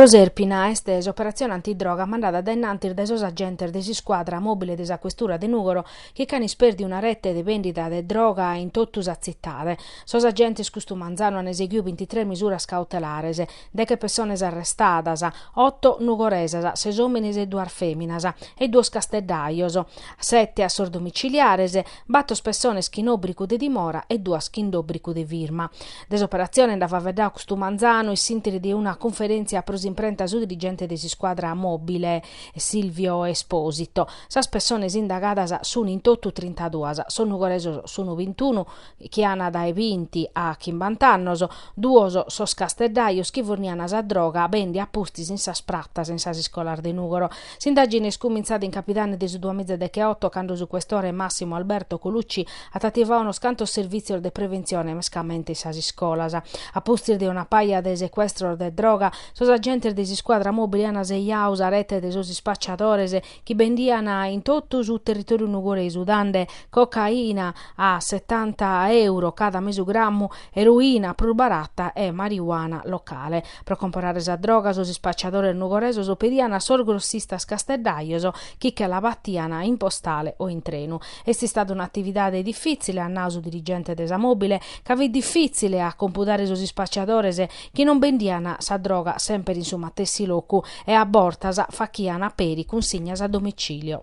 Proserpina est s'operatzione antidroga mandada dae innantis dae sos agentes de s'iscuadra mòbile de sa questura de Nùgoro chi ch'an ispèrdiu una rete de bèndida de droga in totu sa tzitade. Sos agentes custu manzanu an eseghiu bintitres misuras cautelares. deche pessones arrestadas, oto nugoresas, ses òmines e duas fèminas, e duos casteddajos, sete a sos domiciliares, bator pessones chin òbrigu de dimora e duas chin d'òbrigu de firma. De s'operatzione nd'at faveddau custu manzanu in s'interi de una cunferèntzia pro s'imprenta su dirigente de s'iscuadra mòbile Silvio Esposito. Sas pessones indagadas sunt in totu trintaduas, sos nugoresos sunt bintunu, chi an dae binti a chimbant'annos, duos sos casteddajos chi furnian sa droga bèndia a pustis in sas pratas in sas iscolas de Nùgoro. S'indàgine est cumintzada in capidane de su duamiza decheoto cando su questore Massimo Alberto Colucci at ativau unos cantos servìtzios de preventzione mescamente in sas iscolas. A pustis de una paja de secuestros de droga, sos agentes de s'iscuadra mòbile an sejau sa rete de sos ispacciadores, chi bendian in totu su territòriu nugoresu dande cocaina a setanta euro cada mesu grammu, eroina prus barata e mariuana locale. Pro comporare sa droga sos ispacciadores nugoresos pedian a sos grossistas casteddajos chi che la batian in postale o in trenu. Est istada un'atividade difitzile, at nadu su dirigente de sa Mobile, ca fit difìtzile a compudare sos ispacciadores chi non bendian sa droga semper in su matessi locu e a bortas fachian peri cunsignas a domicilio.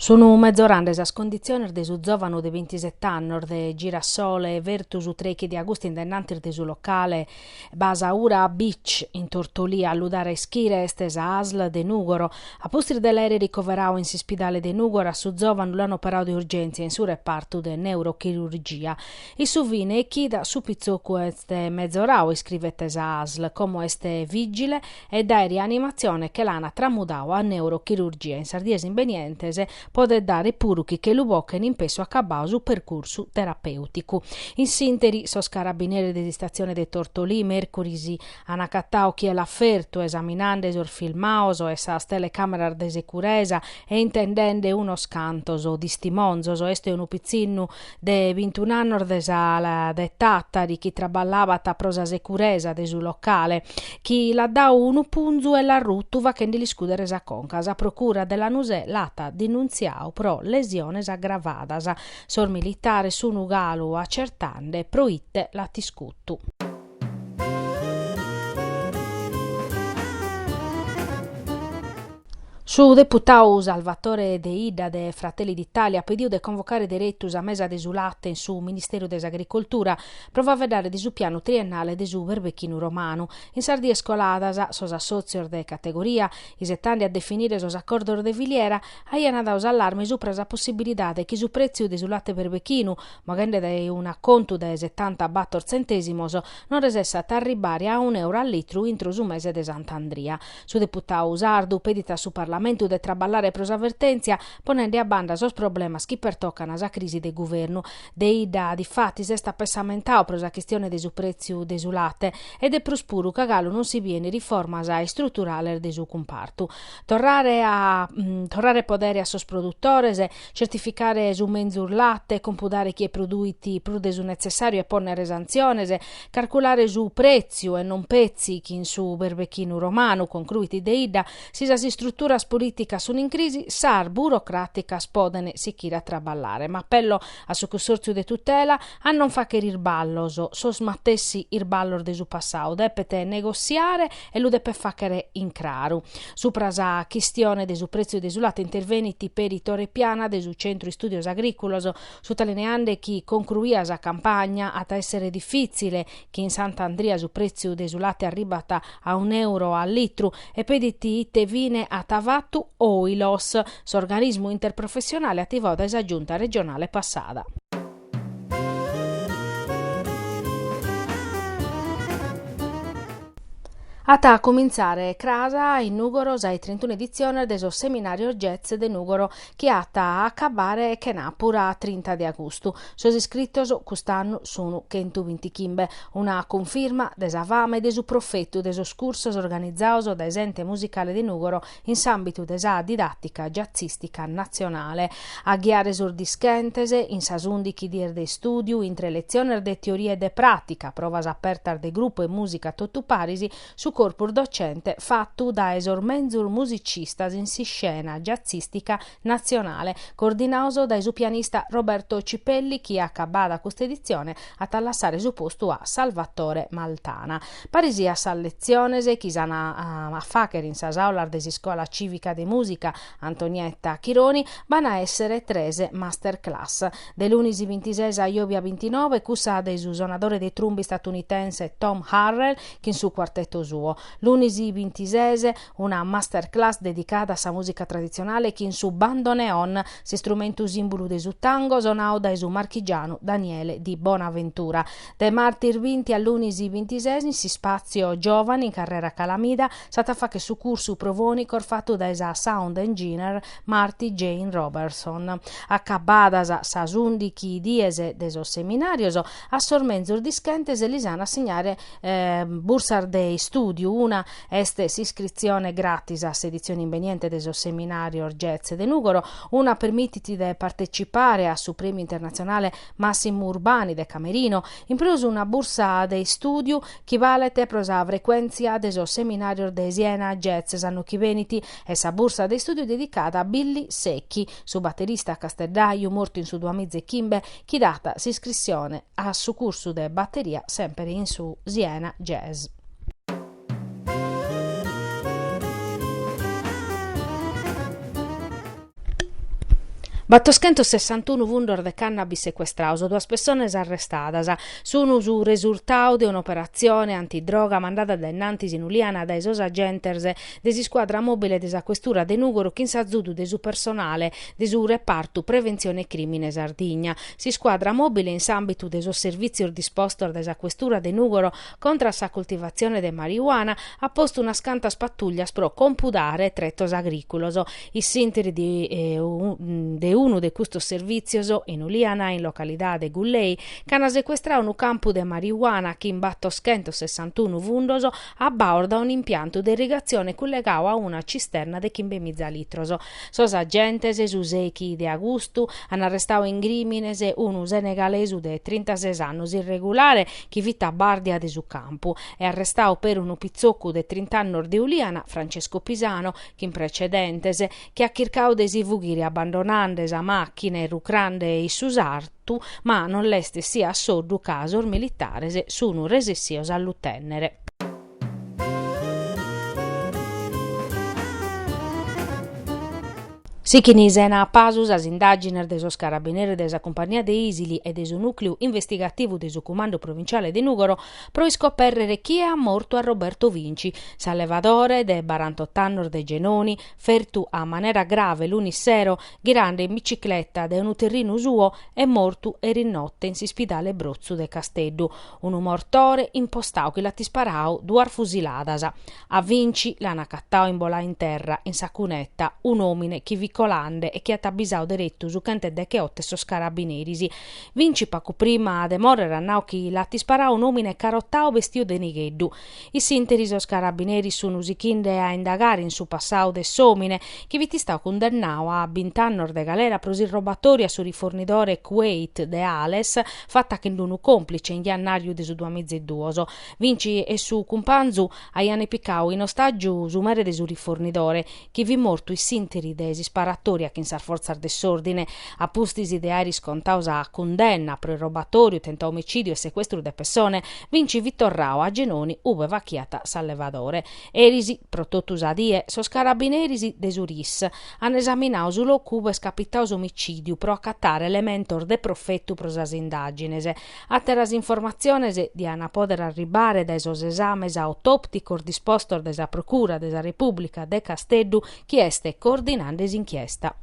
Sun mezorande sas conditziones de su zòvanu de bintiset'annos de Girasole fertu su trèichi de agustu in dennantis de su locale Basaura Beach, in Tortolì, a lu dare a ischire est sa asl de Nùgoro. A pustis de l'aere ricoverau in s'ispidale de Nùgoro, a su zòvanu l'ant operau de urgèntzia in su repartu de neurochirurgia. In su fine 'e chida, su pitzocu est mezorau, iscrivet sa asl, como est vìgile, e dae rianimatzione che l'ana tramudau a neurochirurgia in sas dies imbenientes, podet dare puru chi che lu bochen in pessu acabau su percursu terapèuticu. In s'interi, sos carabineres de s'istatzione de Tortolì, mèrcuris, an acatau chie l'at fertu, esaminande sos filmaos 'e sas telecàmeras de securesa e intendende unos cantos tistimonzos, est unu pitzinnu de bintun'annos de sa de Tàtari chi traballabat pro sa securesa de su locale, chi l'at dadu unu punzu e l'at rutu faghende l'iscùdere sa conca. Sa procura de Lanusè l'at dinuntziadu pro lesiones agravadas. Sos militares sun galu acertende pro ite l'at iscutu. Su deputadu Salvatore Deidda de Fratelli d'Italia at pedidu de convocare deretu sa mesa de su late in su Ministèriu de s'Agricoltura pro faeddare de su pianu triennale de su berbechinu romanu. In sas dies coladas, sos assòtzios de categoria, isetende a definire sos acordos de filiera, aiant dadu s'allarme subra sa possibilidade chi su prètziu de su late berbechinu moghende dae un'acontu de setanta bator tzentèsimos, non resessat a arribare a un'euru a litru intro su mese de Sant'Andria. Su deputadu sardu pedit a su Parlamentu de traballare pro sa vertèntzia, ponende a banda sos problemas chi pertocan sa crisi de guvernu. Deidda, difatis, s'est pessamentadu pro sa chistione de su prètziu de su late e de prus puru ca galu non si bien riformas istruturales de su cumpartu. Torrare podere a sos produtores, certificare su menzus late, compudare chie produit prus de su netzessàriu e pònnere santziones, carculare su prètziu e non petzi chi in su berbechinu romanu, concruit Deidda, si sas istruturas polìticas sunt in crisi, sas burocràticas podent sichire a traballare. M'apello a su cussòrtziu de tutela, A non fàghere isballos, sos matessi isballos de su passadu, depet negossiare e lu depet fàghere in craru. Supra sa chistione de su prètziu de su late intervenit peri Tore Piana de su Centru Istùdios Agrìculos, sutalineende chi concruida sa campagna at a èssere difìtzile chi in Sant'Andria su prètziu de su late arribat a un'èuro a litru e pedit ite fine at fatu Oilos, s'organismu interprofessionale ativadu dae sa Giunta regionale passada. At a comintzare cras in Nùgoro sa 'e trintunu editziones de sos Seminarios Jazz de Nùgoro chi at a acabbare chenàpura a trinta de agustu. Sos iscritos cust'annu sunu chentu bintichimbe, una cunfirma de sa fama e de su profetu de sos cursos organizados dae s'Ente Musicale de Nùgoro in s'àmbitu de sa didàtica giatzìstica natzionale, a ghiare sos dischentes in sas ùndighi dies de istùdiu intre letziones de teoria e de pràtica, provas apertas de grupu e mùsica totu paris, su corpus docente fatu dae sos menzus musicistas in s'iscena giatzìstica Natzionale, coordinados dae su pianista Roberto Cipelli chi acabada custa editzione at a lassare su postu a Salvatore Maltana. Paris a sas letziones chi s'an a fàghere in sas àulas de s'Iscola Cìvica de Mùsica Antonietta Chironi b'an a èssere tres master class, de lunis bintises a jòbia bintinove cussa de su sonadore de trumba istatunitense Tom Harrell chin su cuarteto suo, lunis bintises, Una master class dedicada a sa mùsica traditzionale chin su bandoneon, s'istrumentu sìmbulu de su tango, sonadu dae su marchigianu Daniele Di Bonaventura. De martis binti a lunis bintises, in s'ispàtzio Giovani, in Carrera Calamida, s'at a fàghere su cursu pro fònicos fatu dae sa sound engineer Marti Jane Robertson. Acabadas sas ùndighi dies de sos seminàrios, a sos menzus dischentes lis an a assignare bursas de istùdiu, una Est s'iscritzione gratis a s'editzione imbeniente de sos Seminàrios Jazz de Nùgoro, una permitit de partecipare a su Prèmiu internatzionale Massimo Urbani de Camerino, in prus una bursa de istùdiu chi balet pro sa frecuèntzia de sos Seminàrios de Siena Jazz s'annu chi benit e sa bursa de istùdiu dedicada a Billy Sechi, su baterista casteddàiu mortu in su duamiza e chimbe, chi dat s'iscritzione a su cursu de batteria semper in su Siena Jazz. Battoschentos sessantunu fundos de cannabis secuestrados, duas pessonas arrestadas, sun su resurtadu de un'operatzione antidroga mandada dae in antis in Uliana dae sos agentes de s'iscuadra mòbile de sa questura de Nùgoro chin s'azudu de su personale de su Repartu Preventzione Crìmine Sardigna. S'iscuadra mòbile in s'àmbitu de sos servìtzios dispostos dae sa questura de Nùgoro contra a sa coltivatzione de marijuana at postu unas cantas patùllias pro compudare tretos agrìculos. In s'interi de unu de custos servìtzios, in Uliana, in localidade Gullei, ch'an secuestradu unu campu de marijuana chin battoschentos sessantunu fundos, abbados dae un'impiantu de irrigatzione cullegadu a una cisterna de chimbe miza litros. Sos agentes, su sechi de agustu, an arrestadu in crìmines unu senegalesu de trintases annos irregulare chi fit a bàrdia de su campu e arrestadu peri unu pitzocu de trint'annos de Uliana, Francesco Pisano, chin precedentes, chi at chircadu de si fughire abbandonande sa màchina e rucrande in su sartu. Sartu, ma non l'est essia a soddu ca sos militares sunu resessios a lu tènnere. Sighint sena pasu sas indàgines de sos carabineris de sa Cumpagnia de Isili e de su Nùcleu Investigativu de su Cumandu Provinciale de Nùgoro pro iscopèrrere chie at mortu a Roberto Vinci, s'allevadore de barantot'annos de Genoni, fertu a manera grave lunis sero ghirande in bicicleta dae unu terrinu suo est mortu erinotte in s'ispidale Brotzu de Casteddu unu mortore impostadu chi l'at isparadu duas fusiladas. A Vinci l'an acatadu imboladu in terra, in sa cuneta, un'òmine chi fit colande e chi at abisadu deretu su chent'e decheotte e sos carabineris. Vinci pagu prima de mòrrere at nadu chi l'at isparadu un'òmine carotadu bestiu de nigheddu. In s'interi sos carabineris sun sichinde a indagare in su passau de s'omine, chi fit istau cundennau a bint'annos de galera pro s'irrobatoriu a su rifornidore Kuwait de Ales fatta chin d'unu complice in jannariu de su duamiza e duos. Vinci e su cumpanzu aiane picau in ostagiu su mere de su rifornidore, chi fit mortu in s'interi de s'isparatoria chin sas fortzas de s'ordine, a pustis de aer iscontadu sa cundenna pro irrobatoriu, tentau omicidiu e secuestru de pessone, Vinci fit torradu a Genoni ube fachiat s'allevadore. Eris, pro totu sa die, sos carabineris de su RIS an esaminadu su locu ube est capitadu s'omicidiu pro acatare elementos de profetu pro sas indagines, Àteras informatziones diant a pòdere arribare dae sos esames autòpticos dispostos dae sa Procura de sa Repùblica de Casteddu chi est coordinande s'inchiesta.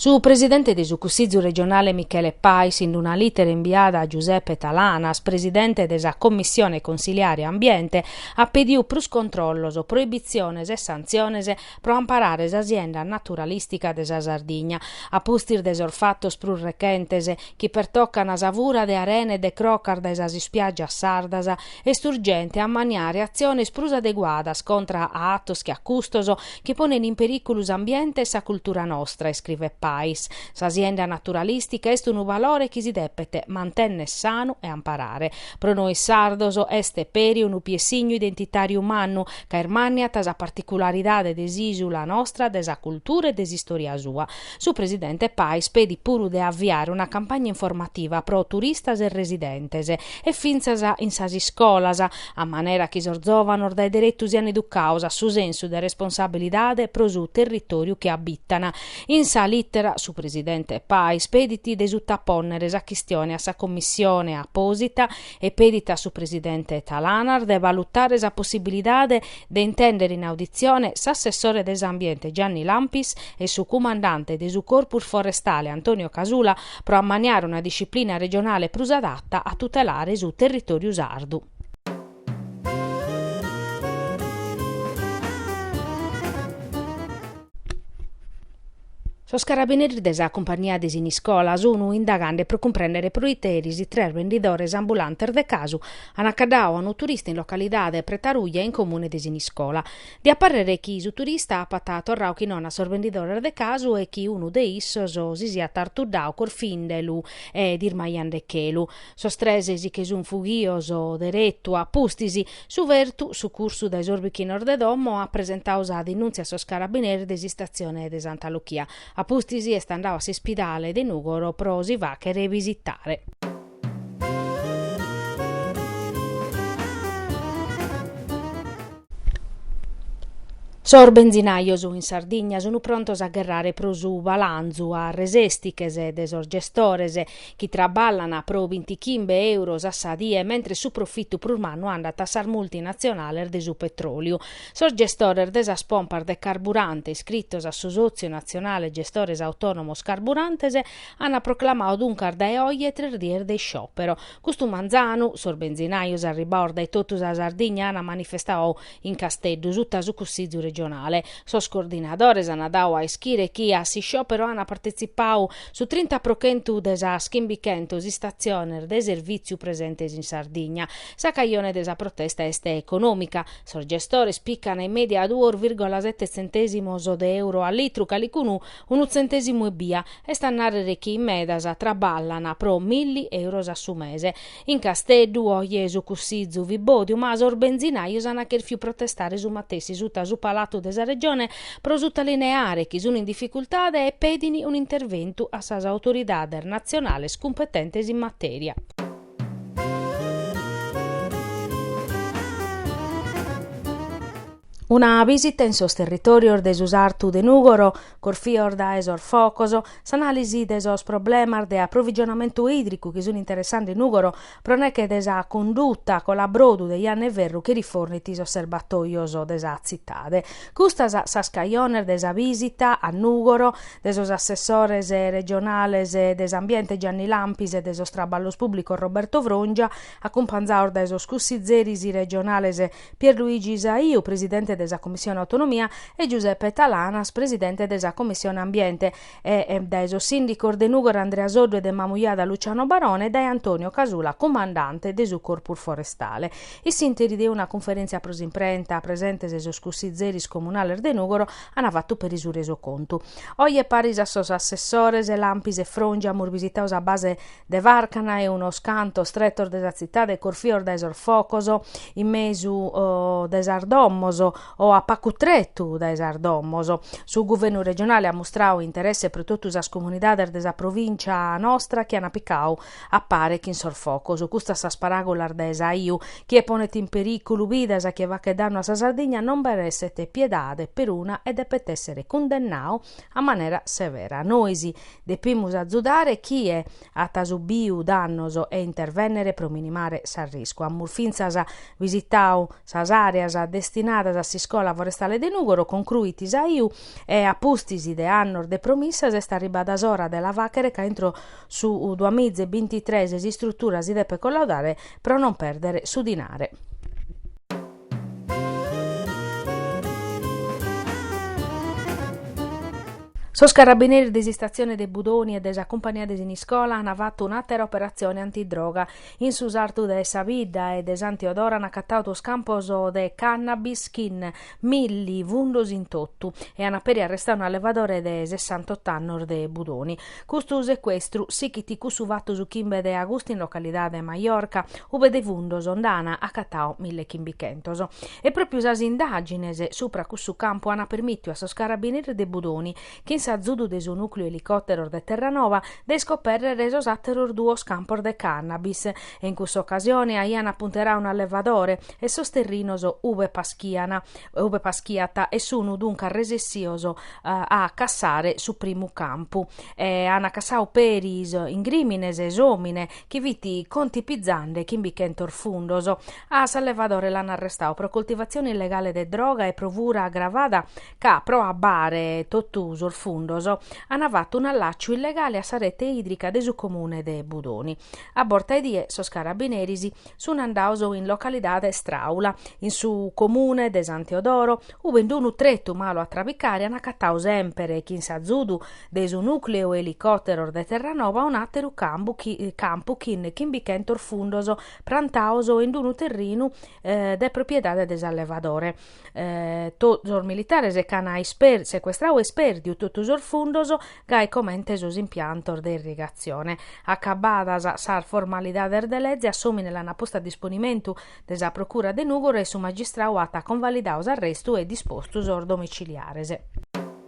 Su presidente de su Cussìgiu regionale Michele Pais in una lìtera imbiada a Giuseppe Talanas, presidente de sa Commissione consiliare Ambiente, at pediu prus controllos, proibitziones e santziones pro amparare sa sienda naturalìstica de sa Sardigna, a pustis de sos fatos prus rechentes chi pertocan sa fura de arena e de crocas dae sas ispiàgias sardas, est urgente a ammaniare atziones prus adeguadas contra a atos che a custos chi ponen in perìculu s'ambiente e sa cultura nostra, iscrivet Pais. Sa sienda naturalìstica est unu valore chi si depet mantenner sanu e amparare. Pro nois sardos est peri unu piessignu identitàriu mannu, ca ismànniat sa particularidade de s'ìsula nostra, de sa cultura e de s'istòria sua. Su presidente Pais pedit puru de aviare una campagna informativa pro turistas e residentes, e fintzas in sas iscolas, a manera chi sos zòvanos dae deretu sian educados a su sensu de responsabilidade pro su territòriu chi abitan, In sa lìtera su presidente Pais pedit de sutapònnere sa chistione a sa commissione apòsita e pedit a su presidente Talanas de valutare sa possibilidade de intèndere in auditzione s'assessore de s'ambiente Gianni Lampis e su cumandante de su Corpus Forestale Antonio Casula pro ammaniare una disciplina regionale prus adatta a tutelare su territòriu sardu. Sos carabineris de sa Cumpagnia de Siniscola sun indagande pro cumprèndere proite eris tres bendidores ambulantes de casu ant acaddadu a unu turista in localidade Pretaruja in comune de Siniscola. Diat parrere chi su turista apat torradu chi non a sos bendidores de casu e chi unu de issos si siat artuddadu corfindelu e dismaiandechelu. Sos tres si che sun fughios deretu a pustis. Su fertu, sucursu dae sos bichinos de domo, at presentadu sa dinùntzia a sos carabineris de s'Istatzione de Santa Luchia. A pustis est andadu a s'ispidale de Nùgoro pro si fàchere bisitare. Sos benzinajos in Sardigna sun prontos a gherrare pro su balanzu a resestiches de sos gestores. chi traballan pro bintichimbe euros a sa die mentres su profitu prus mannu andat a sas multinatzionales de su petròliu. Sos gestores de sas pompas de carburante iscritos a su Sòtziu Natzionale Gestores Autònomos Carburantes ant proclamadu duncas dae oje tres dies de isciòpero. Custu manzanu, sos benzinajos arribados dae totu sa Sardigna ant manifestadu In Casteddu sutta su Cussizu regionale, sos coordinadores ant dadu a ischire chi a s'isciòpero ant partetzipadu su trinta pro chentu de sas chimbichentos istatziones de servìtziu presentes in Sardigna. Sa cajone de sa protesta est econòmica. Sos gestores picant in mèdia duos vìrgola sete tzentèsimos de euro a litru, calicunu unu tzentèsimu ebbia. Est a nàrrere chi in medas traballant pro milli euros a su mese. In Casteddu, oje, su cussizu fit bòdiu, ma sos benzinajos ant chèrfiu protestare su matessi suta su Palatu de sa Regione pro sutalineare chi sun in dificultade e pedin un'interventu a sas autoridades natzionales cumpetentes in matèria. Una bìsita in sos territòrios de su Sartu de Nùgoro corfios dae sos focos, s'anàlisi de sos problemas de aprovigionamentu ìdricu chi sun interessande Nùgoro pro neche de sa conduta colabrodu de Janna 'e Ferru chi rifornit sos serbatòios de sa tzitade. Custas sas cajones de sa bìsita a Nùgoro de sos assessores regionales de s'Ambiente Gianni Lampis e de sos Traballos Pùblicos Roberto Frongia, acumpanzados dae sos cussizeris regionales Pierluigi Saiu, presidente de sa Commissione Autonomia, e Giuseppe Talanas, presidente de sa Commissione Ambiente, e dae sos sìndicos de Nùgoro Andrea Soddu e de Mamujada Luciano Barone e dae Antonio Casula, cumandante de su Corpus Forestale. In s'ìnteri de una cunferèntzia pro s'imprenta, presentes sos cussizeris comunales de Nùgoro ant fatu peri su resocontu. Oje paris a sos assessores Lampis e Frongia amus bisitadu sa base de Fàrcana e unos cantos tretos de sa tzitade corfios dae sos focos in mesu de sas domos o a pagu tretu dae sas domos. Su Guvernu regionale at mustradu interesse pro totu sas comunidades de sa provìncia nostra chi ant picadu a pare chin sos focos. Custas sas paràgulas de Saiu: chie ponet in perìculu bidas e chie faghet dannu a sa Sardigna, non b'at a èssere piedade peruna e depet èssere cundennadu a manera severa. Nois depimus azudare chie at subiu dannos e intervènnere pro minimare s'arriscu. Amus fintzas visitadu sas àreas destinadas a s'Iscola Forestale de Nùgoro, concruit Saiu, e a pustis de annos de promissas est arribada s'ora de la fàghere ca intro su duamiza e bintitres s'istrutura si depet collaudare pro non pèrdere su dinare. Sos carabineris de s'istatzione de Budoni e de sa cumpannia de Siniscola ant fatu un'àtera operatzione antidroga. In su sartu de sa bidda e de San Teodoro ant acatadu duos campos de cannabis chin milli fundos in totu e ant peri arrestadu un'allevadore de sessantot'annos de Budoni. Custu secuestru sichit cussu fatu su chimbe de agustu in localidade Majorca, ube de fundos nd'ana acatadu mille chimbichentos. E pròpiu sas indàgines supra cussu campu ana permìtiu a sos carabineris de Budoni, chin s'azudu de su nùcleu elicòteros de Terranova, de iscopèrrere sos àteros duos campos de cannabis, e in cussa ocasione aian apunteradu un'allevadore e sos terrinos ube paschiana ube paschiat e sun duncas resessios a cassare su primu campu e an cassadu peris in crìmines s'òmine chi fit contipizende chimbichentos fundos. A s'allevadore l'an arrestadu pro coltivatzione illegale de droga e pro fura agravada ca, pro abbare totu sos fundos, an fatu un'allàciu illegale a sa rete ìdrica de su comune de Budoni. A borta 'e die sos carabineris Sun andados in localidade Stràula, in su comune de San Teodoro, ube in unu tretu malu a trabicare an acatadu semper chin s'azudu de su nùcleu elicòteros de Terranova un'àteru campu chin chimbichentos fundos prantados in unu terrinu de propiedade de s'allevadore. to sos militares ch'an secuestradu e ispèrdiu totu sos fundos, gai comente sos impiantos de irrigatzione. Acabbadas sas formalidades de leze, a s'òmine l'ana postu a disponimentu de sa procura de Nùgoro e su magistradu at convalidadu s'arrestu e dispostu sos domiciliares.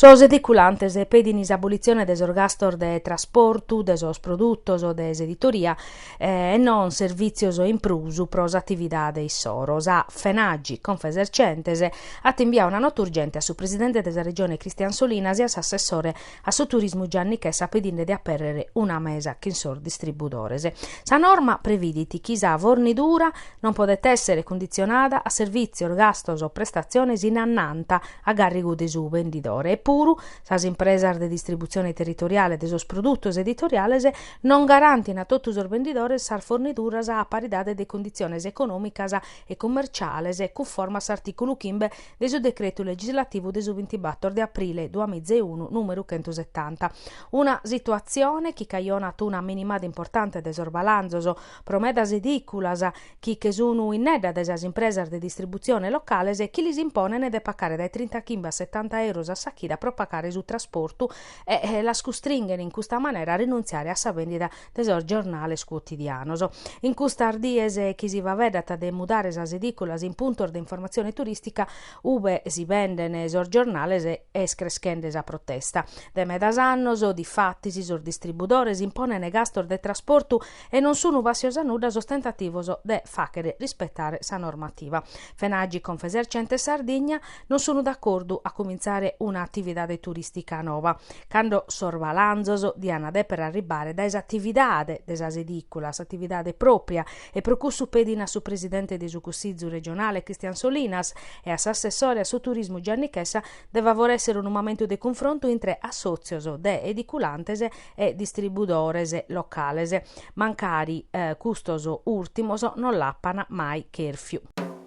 Sos ediculantes pedin s'abolitzione de sos gastos de trasportu de sos produtos de s'editoria e non servìtzios in prus pro s'atividade issoro. Sa FENAGI, Confesercentes, at imbiadu una nota urgente a su presidente de sa Regione Christian Solinas e a s'assessore A su turismu Gianni Chessa pedinde de apèrrere una mesa chin sos distribudores. Sa norma previdit chi sa fornidura non podet èssere cunditzionada a servìtzios, gastos o prestatziones in annanta a gàrrigu de su bendidore e puru sas impresas de distributzione territoriale de sos produtos editoriales non garantin a totu sos bendidores sas forniduras a paridade de cunditziones econòmicas e cummerciales cunforma a s'artìculu chimbe de su Decretu legislativu de su bintibàtor de aprile duamìa e unu, nùmeru chentu setanta. Una situatzione chi cajonat una minimada importante de sos balanzos, pro medas edìculas chi che sun innedda de sas impresas de distributzione locales e chi lis imponen de pagare dae trinta chimbe a setanta euros a sa chida pro pagare su trasportu e las custringen in custa manera a rinuntziare a sa bèndida de sos giornales cuotidianos. In custas dies chi si faeddat de mudare sas edìculas in puntos de informatzione turìstica ube si benden sos giornales est creschende sa protesta. De medas annos, difatis, sos distribudores imponent gastos de trasportu e non sun bàssios a nudda sos tentativos de fàghere rispetare sa normativa. FENAGI Confesercenti Sardigna. non sun d'acordu a cumintzare una atividade turistica nova, cando sos balanzos dian deper arribbare dae s'atividade de sas ediculas, atividade propria, e pro cussu pedin a su presidente de su Cussizu regionale Cristian Solinas e a s'assessore a su turismu Gianni Chessa de favoressere unu momentu de cunfrontu intre assotzios de ediculantes e distribudores locales, mancari custos urtimos non l'apan mai cherfiu.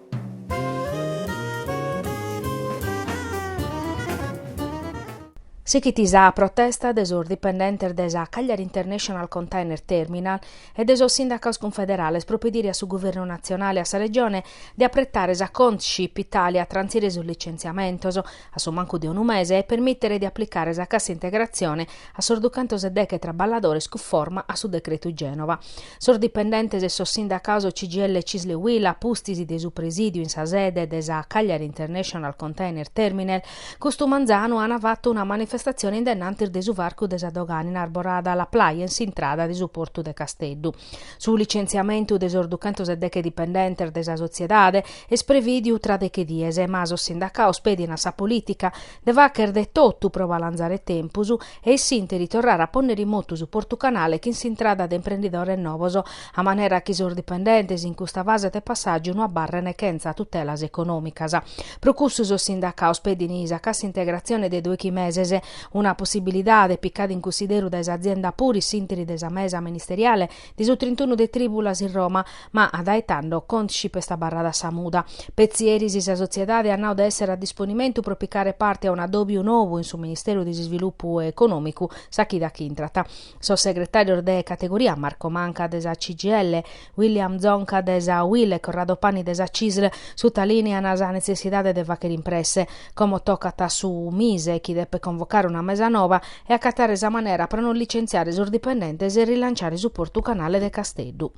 Sighit sa protesta de sos dipendentes de sa Cagliari International Container Terminal e de sos sindacaos cunfederales pro pedire a su Guvernu natzionale e a sa Regione de apretare sa Contship Italia a trantzire sos licenziamentos. a su mancu de unu mese e permìtere de aplicare sa cassa integratzione a sos duchentos e deghe traballadores cunforma a su decretu Gènova. Sos dipendentes e sos sindacados CGIL, CISL e UIL, pustis de su presìdiu in sa sede de sa Cagliari International Container Terminal, custu manzanu an fatu una manifestatzione in dennantis de su varcu de sa dogana in arborada La Plaia in s'intrada de su portu de Casteddu. Su licentziamentu de sos duchentos e deghe dipendentes de sa sotziedade est prevìdiu tra deghe dies, ma sos sindacados pedin a sa polìtica de fàghere de totu pro balanzare tempus e in s'ìnteri torrare a pònnere in motu su Portu Canale chin s'intrada de imprendidores novos, a manera chi sos dipendentes in custa fase de passàgiu no abarren chentza tutelas econòmicas. Pro cussu sos sindacados pedin sa cassa-integratzione de doighi meses, Una possibilidade picada in cussideru dae s'azienda puru in s'ìnteri de sa mesa ministeriale de su trintunu de tribulas in Roma, ma a dae tando Contship est abarrada a sa muda. Petzi eris sa sotziedade at nau de essere a disponimentu pro picare parte a un'adobiu nou in su Ministeru de s'Isvilupu Econòmicu sa chida chi intrat sos segretàrios de categoria Marco Manca de sa CGIL, William Zonca de sa Uil e Corrado Pani de sa Cisl sutalìnean sa netzessidade de fàghere impresse, como tocat a su Mise chi depet convocare una mesa nova e acatare sa manera pro non licentziare sos dipendentes e rilanciare su portu canale de Casteddu.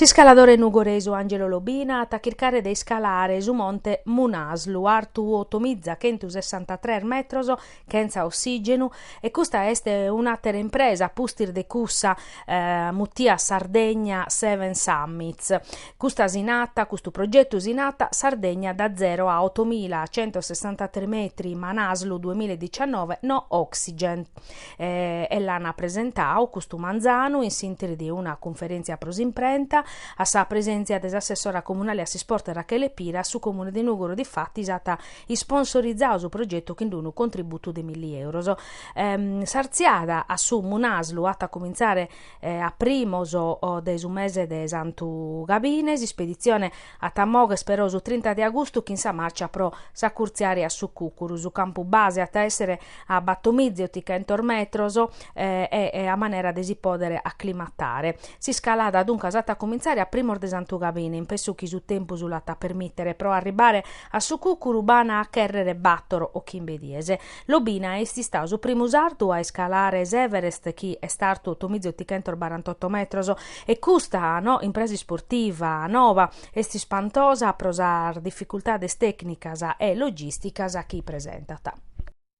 S'iscaladore nugoresu Angelo Lobina at a chircare de iscalare su monte Manaslu, artu otomiza chentu sessantatres metros chentza ossìgenu, e custa est un'àtera impresa a pustis de cussa mutia Sardegna Seven Summits. Custa si natat, custu progetu si natat Sardegna da zero a otomila centosessantatres metri, Manaslu duamilla e dicionove, No Oxygen. E l'an presentadu custu manzanu in s'interi de una cunferèntzia pro s'imprenta, a sa presèntzia de s'assessora comunale a s'isport Rachele Pira, su Comune de Nùgoro difatis at Isponsorizadu su progetu chin d-unu contributu de milli euros. S'artziada a su Manaslu at a comintzare a primos de su mese de Santu Gabine, s'ispeditzione at a mòghere però su trinta de agustu chin sa marcia pro s'acurtziare a su Cùcuru. Su campu base at a èssere a batomiza otichentos metros e a manera de si pòdere aclimatare. S'iscalada duncas at a comintzare a primos de Santu Gabine, in pessu chi su tempus l'at a permìtere, pro arribare A su cùcuru b'ana a chèrrere bàtoro o chimbe dies. Lobina est istadu su primu sardu a iscalare s'Everest chi est artu otomiza otichentos barantoto metros e custa impresa isportiva nova est ispantosa pro sas dificultades tècnicas e logìsticas chi presentat.